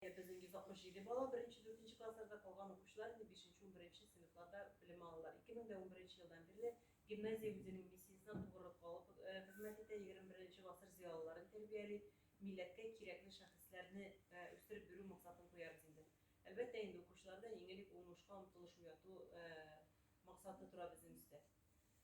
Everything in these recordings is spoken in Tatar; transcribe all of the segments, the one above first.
Ә безнең 167 бала беренче, дүртенче классларда, калган укучылар инде бишенче, унберенче сыйныфларда белем алалар. 2011 елдан бирле гимназия үзенең миссиясенә тугрылык кагып хезмәт итә, егерме беренче гасыр зыялыларын тәрбияли, милләткә кирәкле шәхесләрне үстереп бирү максатын куябыз инде. Әлбәттә инде, укучыларда иң элек уңышка омтылыш уяту максаты тора безнең өстә.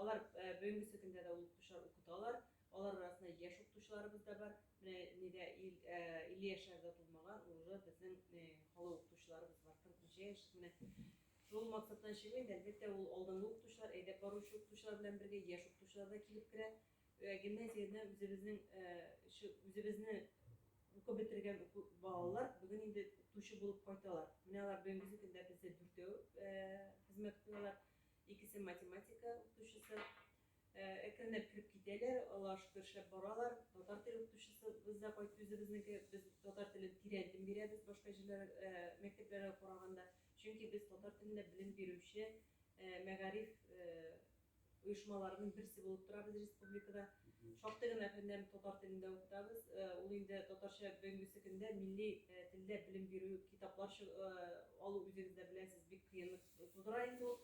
Алар бүгенгесе көндә дә ул укытучылар укыталар. Алар арасында яшь укытучыларыбыз да бар. Менә нидә 50 яшьләр дә тулмаган, уже безнең халык укытучыларыбыз бар, 40 ничә яшьлек менә. Шул максаттан чыгыйм, әлбәттә, ул алдынгы укытучылар, әйдәп баручы укытучылар белән бергә яшь укытучылар да килеп керә. Гимназияне үзебезнең үзебезне укып бетергән балалар бүген инде укытучы булып кайталар. Менә алар бүгенгесе көндә бездә дүртәү хезмәт куялар. Икесе математика укытучысы. Әкренләп кереп китәләр, алар шөкершләп баралар. Татар теле укытучысы без дә кайт үзебезнеке, без татар телен тирән дим бирәбез башка җирләр мәктәпләргә караганда. Чөнки без татар телендә белем бирүче мәгариф оешмаларының берсе булып торабыз республикада. Шактый гына фәннәр татар телендә укытабыз. Ул инде татарча бүгенге көндә милли телдә белем бирү китаплар алу үзегез дә беләсез, бик кыенлык Тудыра инде ул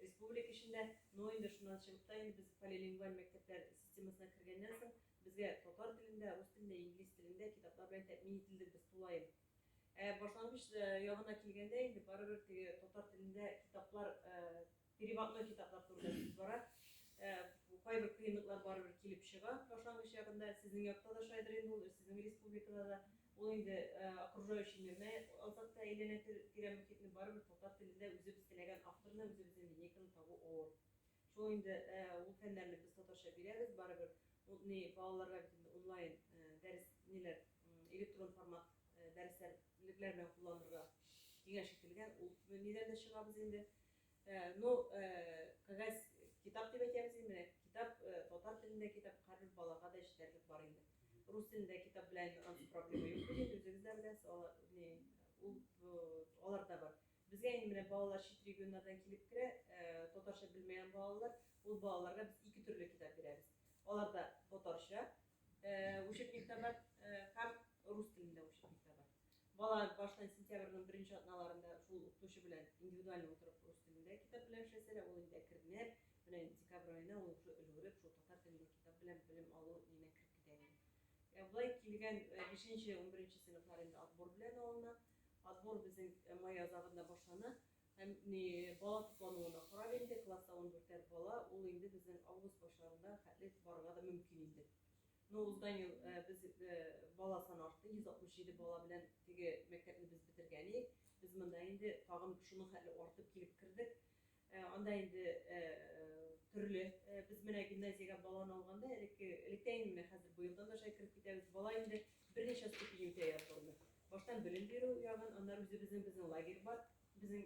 республика эчендә, но инде шуннан чыгып та инде без полилингваль мәктәпләр системасына кергәннән соң безгә татар телендә, рус телендә, инглиз телендә китаплар белән тәэмин ителдек без тулаем. Ә башлангыч ягына килгәндә инде барыбер теге татар телендә китаплар переводной китаплар турында сүз бара. Кайбер кыенлыклар барыбер килеп чыга башлангыч ягында. Сезнең якта да шайдыр инде ул, сезнең республикада да. Ул инде окружающий мирны ансат та әйләнә тирә мохитне барыбер татар телендә үзебез теләгән авторны үзебезнең линейканы табу авыр. Шул инде ул фәннәрне без татарча бирәбез барыбер ул ни балаларга бит инде онлайн дәрес ниләр электрон формат дәресләр лекләр белән кулланырга киңәш ителгән ул нидән дә чыгабыз инде. Э, ну, э, кәгазь китап дип әйтәбез инде, менә китап, э, татар телендә китап, һәрбер балага да җитәрлек бар инде. Рус телендә китап белән ансыз проблема юк, бит, үзегез дә беләсез, алар, не, ул, алар да бар. Безгә инде менә балалар чит регионнардан килеп керә, татарча белмәгән балалар, ул балаларга без ике төрле китап бирәбез. Алар да татарча, учебник та бар, һәм рус телендә учебник та бар. Бала баштан сентябрьнең беренче атналарында шул укытучы белән индивидуаль утырып рус телендә китап белән эшләсә дә, ул инде әкренләп, менә декабрь аена ул уже өлгереп, шул татар телендә китап белән белем алу ниенә кереп китә инде. Ә болай килгән 5-нче, 11-нче сыйныфлар инде отбор белән алына. Отбор безнең май азагында башлана. Һәм ни бала туплануына карап инде класста 14 бала, ул инде безнең август башларында хәтле барырга да мөмкин инде. Ну узган ел без бала саны артты, 167 бала белән теге мәктәпне без бетергән идек. Без монда инде тагын шуның хәтле артып килеп кердек. Анда инде төрле без менә гимназиягә баланы алганда элекке электә инде менә хәзер быелдан да шулай кереп китәбез. Бала инде берничә ступеньгә язылды. Баштан белем бирү ягын, аннары үзебезнең безнең лагерь бар. Безнең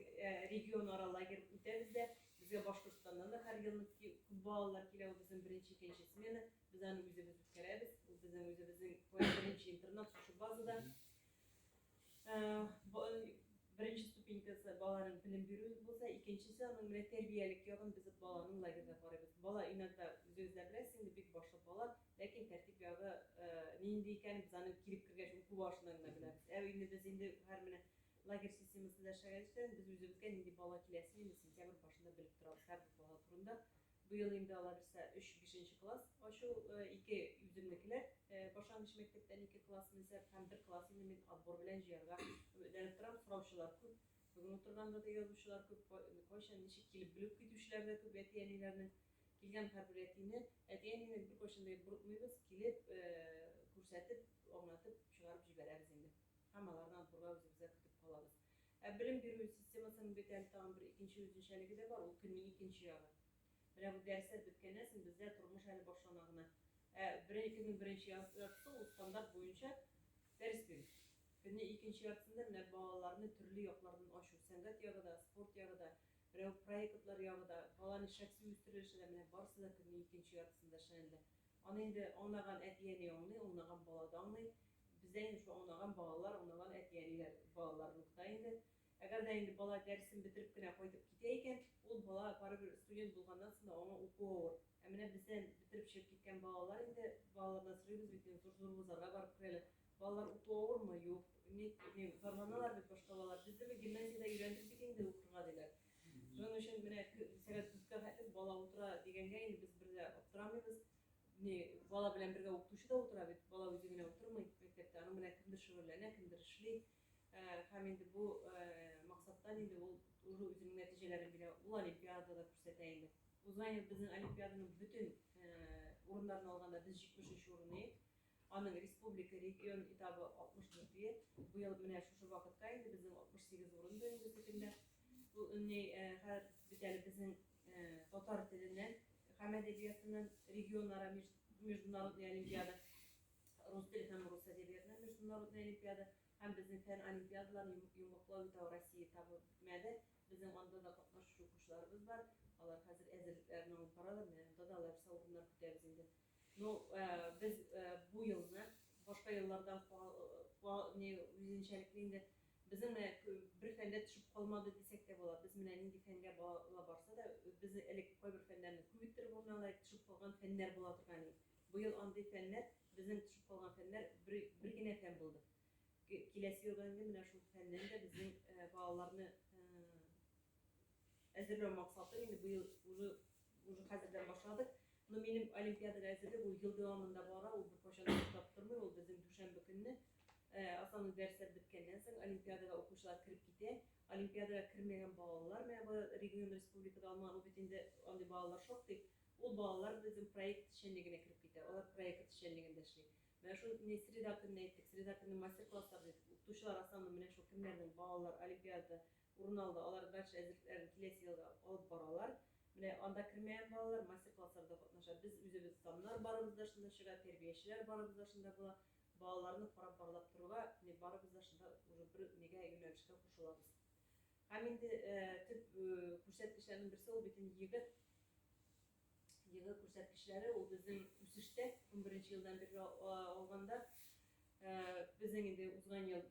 регион ара лагерь үтәбез дә. Безгә Башкортстаннан да һәр ел күп балалар килә, ул безнең беренче, икенче смена. Без аны үзебез үткәрәбез. Ул безнең үзебезнең беренче интернат шушы базада. Беренче ступенькасы баланың белем бирү булса, икенчесе аның менә тәрбиялек ягын без баланың лагерьда карыйбыз. Бала иногда үзегез дә беләсез, инде бик башлы бала, ләкин тәртип ягы нинди икәнен без аны килеп кергәч уку барышында гына беләбез. Ә инде без инде һәр менә лагерь системасында эшләгән өчен без үзебезгә нинди бала киләсен инде сентябрь башында белеп торабыз һәр бала турында. Быел инде алар үсә, өч, бишенче класс ачу, ике үземнекеләр, башлангыч мәктәптән ике класс менсәп һәм бер класс инде мин отбор белән җыярга өметләнеп торам, сораучылар күп, бүген утырганда да язучылар күп, кайчан, ничек килеп белеп китүчеләр дә күп, әти-әниләрнең, килгән һәрбер әтине, әти-әнине беркайчан да борытмыйбыз, килеп, күрсәтеп, аңлатып чыгарып җибәрәбез инде һәм аларны отборга үзебездә көтеп калабыз. Ә белем бирү системасының бит әле тагын бер икенче үзенчәлеге дә бар, ул көннең икенче ягы. Менә бу дәресләр беткәннән соң бездә тормыш әле башлана гына. Ә беренче көннең беренче яртысы ул стандарт буенча дәрес бирү. Көннең икенче яртысында менә балаларны төрле яклардан ачу, сәнгать ягы да, спорт ягы да, менә бу проектлар ягы да, баланың шәхси үстерелеше дә, менә барысы да көннең икенче яртысында эшләнелә. Аны инде аңлаган әти-әни аңлый, аңлаган бала да аңлый. Бездә инде шул аунаган балалар, аунаган әти-әниләр балаларлыкта инде. Әгәр дә инде бала дәресен бетереп кенә кайтып китә икән, ул бала барыбер студент булганнан соң да аңа уку авыр. Ә менә бездән бетереп чыгып киткән балалар инде, балалардан сорыйбыз бит инде, зур-зур вузларга барып керәләр. Балалар уку авырмы? Юк. Ник, ни, зарланалар бит башка балалар. Без дә бит гимназиядә өйрәндек бит инде укырга, диләр. Шуның өчен менә сәгать дүрткә хәтле бала утыра дигәнгә инде без бер дә аптырамыйбыз. не бала белән бергә укытучы да утыра бит бала үзе генә утырмый мәктәптә аның белән кемдер шөгыльләнә кемдер эшли һәм инде бу максаттан инде ул уже үзенең нәтиҗәләрен бирә ул олимпиадада күрсәтә инде узган ел безнең олимпиаданың бөтен урыннарын алганда без җитмешенче урын идек Аның республика, регион этабы 64 е, быел менә шушы вакытка инде безнең 68 урын бирелде бөтенләй. Бу ни хәл бит әле безнең татар теленнән һәм әдәбиятыннан регионара международный олимпиада, рус теле һәм рус әдәбиятыннан международный олимпиада һәм безнең фән олимпиадаларын йомгаклау этабы Россия этабы бетмәде. Безнең анда да катнашучы укучыларыбыз бар. Алар хәзер әзерлекләрен алып баралар, менә анда да алар урыннар көтәбез инде. Ну, без бу елны башка еллардан үзенчәлекле инде, без менә бер фәндә төшеп калмады дисәк тә була. Без менә нинди фәнгә бала барса да, безне элек кайбер фәннәрне күп иттереп алды, алай төшеп калган фәннәр була торган иде. Бу ел андый фәннәр, безнең төшеп калган фәннәр бер бер генә фән булды. Киләсе елдан инде менә шул фәннән дә безнең балаларны Әзерләү максаты инде бу ел уже уже хәзердән башладык. Но минем олимпиадага әзерлек ул ел дәвамында бара, ул беркайчан да туктап тормый, ул безнең дүшәмбе көнне э, основной дәресләр беткәннән соң олимпиадага укучылар кереп китә. Олимпиадага кермәгән балалар менә бу регион республикада алмаган, ул бит инде андый балалар шактый. Ул балалар безнең проект эшчәнлегенә кереп китә. Алар проект эшчәнлегендә эшли. Менә шул не среда көнне әйттек, среда көнне мастер-класслар дидек. Укытучылар основном менә шул кемнәрнең балалар олимпиадада урын алды, алар дача әзерлекләрен киләсе елга алып баралар. Менә анда кермәгән балалар мастер-классларда катнаша. Без үзебез саннар барыбыз да шунда чыга, тәрбиячеләр барыбыз да шунда була. Балаларны карап-барлап торырга менә барыбыз да шунда уже бер нигә юнәлешкә кушылабыз. Һәм инде төп күрсәткечләрнең берсе ул бит инде егет. Елгы күрсәткечләре, ул безнең үсештә, унберенче елдан бирле алганда, безнең инде узган ел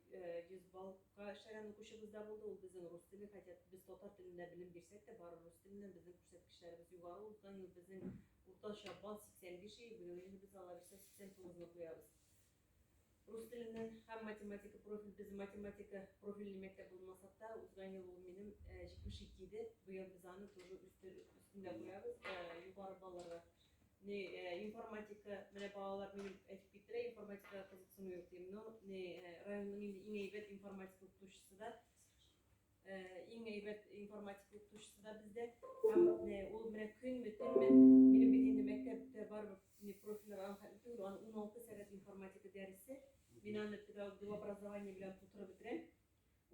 100 баллга эшләгән укучыбыз да булды, ул безнең рус теле, хотя без татар телендә белем бирсәк тә, бары рус теленнән безнең күрсәткечләребез югары, узган ел безнең уртача балл 85 иде, быел инде без алабыз 89 ны куябыз. Рус теленнән һәм математика профиль, без математика профильле мәктәп булмасак та, узган ел ул минем 72 иде, быел без аны тоже өстендә куябыз, югары балаларга. Не, информатика, менә балалар минем әйтеп киттеләр, информатикага кызыксыну юк дим, но не, районның инде иң әйбәт информатика укытучысы да, Иң әйбәт информатика укытучысы да бездә. Һәм ул менә көнме, төнме, минем бит инде мәктәптә барып, не профильләр аны хәтле түгел, аны 16 сәгать информатика дәресе. Мин аны педагог дип образование белән тутырып бетерәм.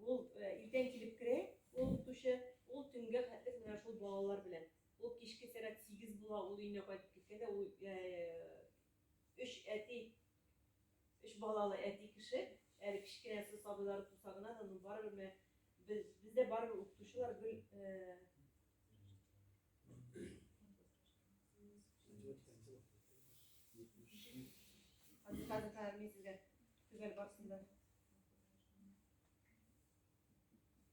Ул иртән килеп керә, ул укытучы, ул төнгә хәтле менә шул балалар белән. Ул кичке сәгать 8 була, ул өенә кайтып киткәндә, ул Өч әти, өч балалы әти кеше, әле кечкенәсе сабыйлары туса гына да, ну барыбер менә без, бездә барыбер укытучылар гел Хәзер хәзер хәзер мин сезгә төгәл барсын да.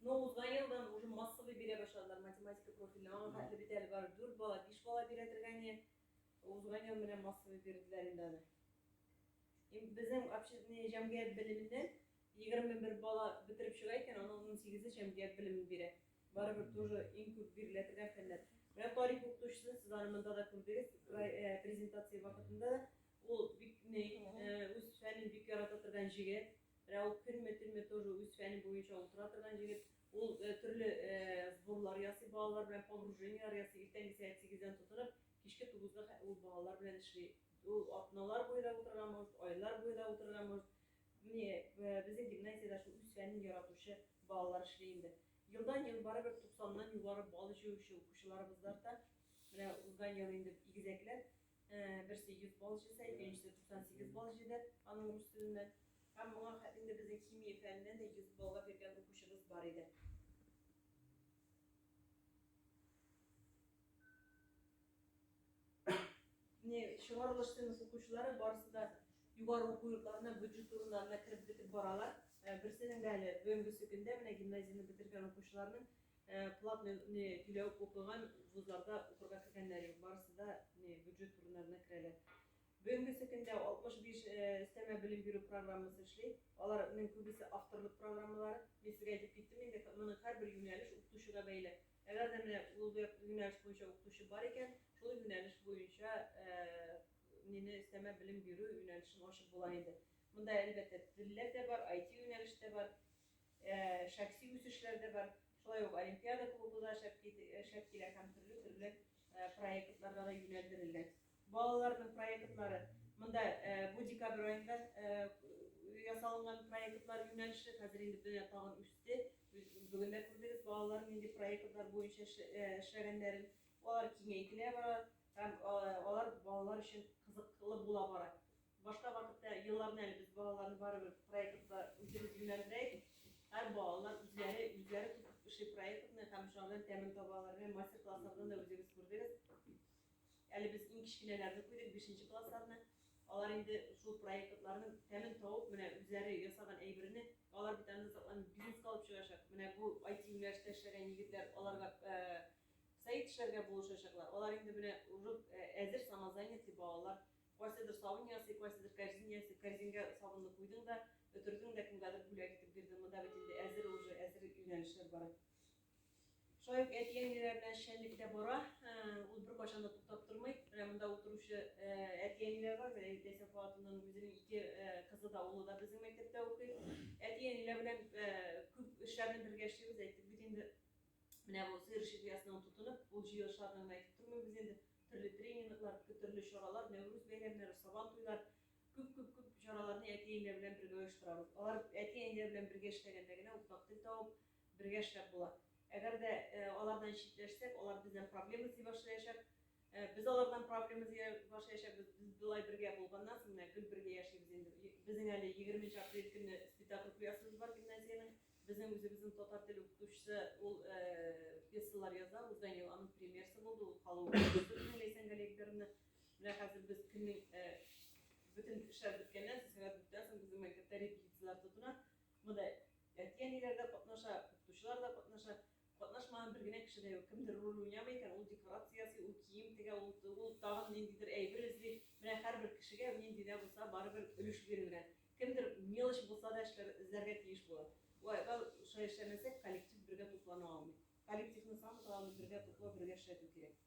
Но узган елдан уже массовый бирә башладылар математика профильне. Аңа хәтле бит әле бар 4 бала, 5 бала бирәтергә не. Узган ел менә массовый бирделәр инде аны. Им безнең общественный җәмгыять белеменнән 21 бала бетереп чыга икән, аның 18-е җәмгыять белемен бирә. Барыбер тоже иң күп биреләтергән фәннәр. Менә тарих укытучысы, сез аны монда да күрдегез, презентация вакытында да ул бик үз фәнен бик ярата торган җегет. Рәүф Хөрмәтуллин тоже үз фәне буенча утыра торган җегет. Ул төрле сборлар ясый, балалар белән погружениелар ясый. Иртәнге сәгать 8-дән тотынып, кичке 9-га хәтле ул балалар белән эшли. Ул атналар буе да утырырга может, айлар буе да утырырга может. Менә безнең гимназиядә шул үз фәнен яратучы балалар эшли инде. Елдан-ел барыбер 90-нан югары балл җыючы укучыларыбыз да арта. Менә узган ел инде игезәкләр Берсе 100 балл җыйса, икенчесе 98 балл җыйды аның рус теленнән. Һәм моңа хәтле безнең химия фәненнән дә 100 баллга биргән укучыбыз бар иде. Менә чыгарылыш темасы укучылары барысы да югары уку йортларына бюджет урыннарына кереп бетеп баралар. Берсенең дә әле бүгенгесе көндә менә гимназияне бетергән укучыларның Ә платный не түләү укыган вузларда укырга кергәннәр юк, барысы да не бюджет урыннарына керәләр. Бүгенгесе көндә 65 өстәмә белем бирү программасы эшли. Алар нең күбесе авторлык программалары. Мин сезгә әйтеп киттем инде, моның һәрбер юнәлеш укытучыга бәйле. Әгәр дә менә ул юнәлеш буенча укытучы бар икән, шул юнәлеш буенча нене өстәмә белем бирү юнәлешен ачып була инде. Монда әлбәттә телләр дә бар, IT юнәлеш тә бар. Ә шәхси үсешләр дә бар. Шулай ук олимпиада клубы да шәп шәп килә һәм төрле төрле проектларга да юнәлдерелгән. Балаларның проектлары монда бу декабрь аенда ясалынган проектлар юнәлеше хәзер инде дөнья тагын үсте. Бүген дә күрдегез балалар нинди проектлар буенча эшләгәннәрен. Алар киңәйтелә бара һәм алар балалар өчен кызыклы була бара. Башка вакытта елларны әле без балаларны барыбер проектка үзебез юнәлдерәйбез. Һәр балалар үзләре үзләре тотып эшли проектны һәм шуңардан тәмен табалар. Менә мастер-класслардан да үзегез күрдегез. Әле без иң кечкенәләрне куйдык, бишенче классларны. Алар инде шул проектларның тәмен табып, менә үзләре ясаган әйберне, алар бит аны сакланып бизнеска алып чыгачак. Менә бу IT-юнәлештә эшләгән егетләр аларга сайт эшләргә булышачаклар. Алар инде менә уже әзер самозанятый балалар. Кайсыдыр сабын ясый, кайсыдыр кәрзин ясый, кәрзингә сабынны куйдың да, бөтердең дә, кемгәдер бүләк итеп бирдең, монда бит инде әзер уже, әзер юнәлешләр бара. Шулай ук әти-әниләр белән эшчәнлек тә бара, ул беркайчан да туктап тормый. Менә монда утыручы әти-әниләр бар, менә Ләйсә Фуатовның үзенең ике кызы да, улы да безнең мәктәптә укый. Әти-әниләр белән күп эшләрне бергә эшлибез, әйттек бит инде. Менә бу сыер шикиясенә ул тотынып, ул җыелышларны гына әйтеп тормыйм без инде, төрле тренинглар, төрле чаралар, Нәүрүз бәйрәмнәре, Сабан туйлар, күп-күп-күп чараларны әти-әниләр белән бергә оештырабыз. Алар әти-әниләр белән бергә эшләгәндә генә уртак тел табып, бергә эшләп була. Әгәр дә алардан читләшсәк, алар бездән проблема эзли башлаячак. Э, без алар белән проблема баш яшәбез, без болай бергә булганнан соң менә гел бергә яшибез инде. Безнең әле 20 апрель көне спектакль куясыбыз бар гимназиянең. Безнең үзебезнең татар теле укытучысы ул э, пьесалар яза, узган ел аның премьерасы булды, ул халык укытучысы Ләйсән Галиевна. Менә хәзер без көннең э, бөтен эшләр беткәннән соң, сәгать беткәннән соң безнең мәктәптә репетицияләр тотына. Монда әти-әниләр дә катнаша, укытучылар да катнаша. Катнашмаган бер генә кеше дә юк. Кемдер роль уйнамый икән, ул декорация ясый, ул кием тегә, ул ул тагын ниндидер әйбер эзли. Менә һәрбер кешегә нинди дә булса барыбер өлеш бирелгән. Кемдер мелочь булса да эшләр, эзләргә тиеш була. Вай, га шулай эшләмәсәк, коллектив бергә туплана алмый. Коллективны саны тагын бергә туплау, бергә эшләтү кирәк.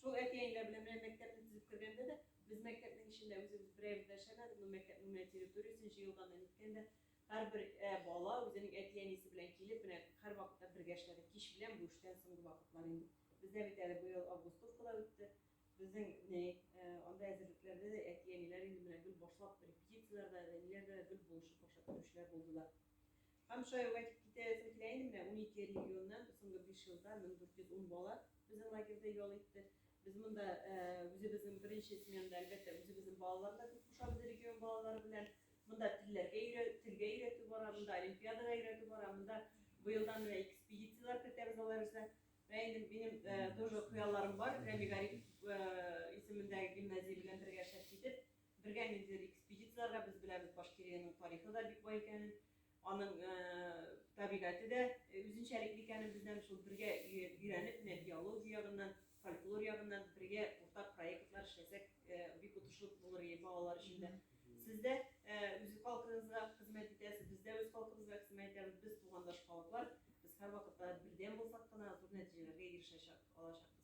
Шул әти-әниләр белән менә мәктәпне төзеп кергәндә дә, без мәктәпнең эчендә үзебез берәебез дә эшләмәдек, ну мәктәпнең менә территориясен җыелган да, ниткән дә, һәрбер бала үзенең әти-әнисе белән килеп, менә һәрвакытта бергә эшләдек, кич белән бу эштән соңгы вакытлар инде. Бездә бит әле быел августовка да үтте, безнең ни, анда әзерлекләрдә дә әти-әниләр инде менә гел башлап, репетицияләрдә дә, ниләрдә дә гел булышып, ашап йөрүчеләр булдылар. Камышлар кайтып китә ясәм килә инде менә унике регионнан соңгы биш елда 1410 бала безнең лагерьда ял итте. Без монда үзебезнең беренче сменада, әлбәттә, үзебезнең балалар да күп кушабыз регион балалары белән. Монда телләргә өйрә, телгә өйрәтү бара, монда олимпиадага өйрәтү бара, монда быелдан менә экспедицияләр кертәбез алар үзенә. Менә инде минем тоже хыялларым бар, Рәми Гарипов исемендәге гимназия белән бергә шәхси итеп Бергә ниндидер экспедицияләргә без беләбез Башкириянең тарихы да бик бай икәнен, аның табигате дә үзенчәлекле икәнен бездән шул бергә өйрәнеп, менә биология ягыннан, фольклор ягыннан бергә уртак проектлар эшләсәк, бик отышлы булыр иде балалар өчен дә. Сез дә үз халкыгызга хезмәт итәсез, без дә үз халкыбызга хезмәт итәбез, без тугандаш халыклар, без һәрвакытта бердәм булсак кына зур нәтиҗәләргә ирешәчәк, алачакбыз.